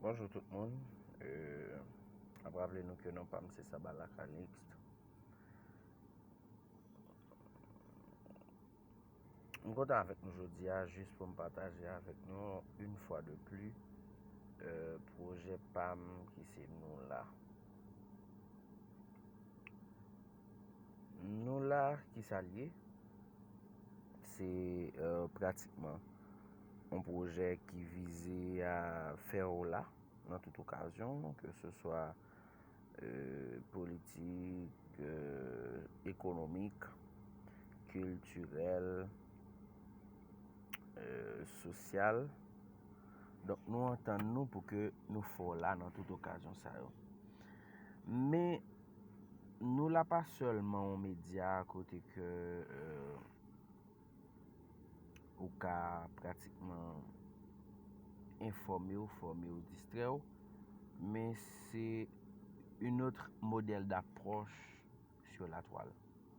Bonjou tout moun, ap raple nou ke non pa m se Saba Lakanix. M kontan avèk nou jodi a, jis pou m pataje avèk nou, yon fwa de pli, euh, pwojè pa m ki se nou la. Nou la ki sa l ye? Se pratikman yon pwojè ki vize a fè w la nan tout okazyon, ke se swa politik, ekonomik, kiltirèl, sosyal. Donk nou antann nou pou ke nou fè w la nan tout okazyon sa yo. Men, Nou la pa sèlman yon medya kote ke ou ka pratikman enfòme ou, fòme ou, distrè ou, men se yon otre modèl d'aproche sur la toile.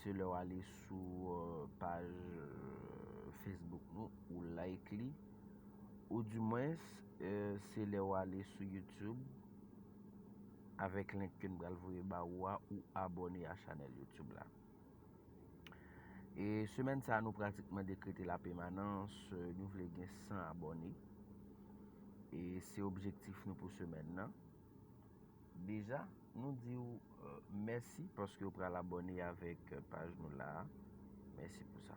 Se lèw ale sou paj Facebook nou ou like li ou di mwens se lèw ale sou YouTube avèk link ke m pral voye ba ou a ou abone a chanèl YouTube la. E semèn sa nou pratikman dekrete la pemanans nou vle gen 100 abone e se objektif nou pou semèn nan. Deja nou diw mèsi paske ou pral abòne avèk paj nou la a. Mèsi pou sa.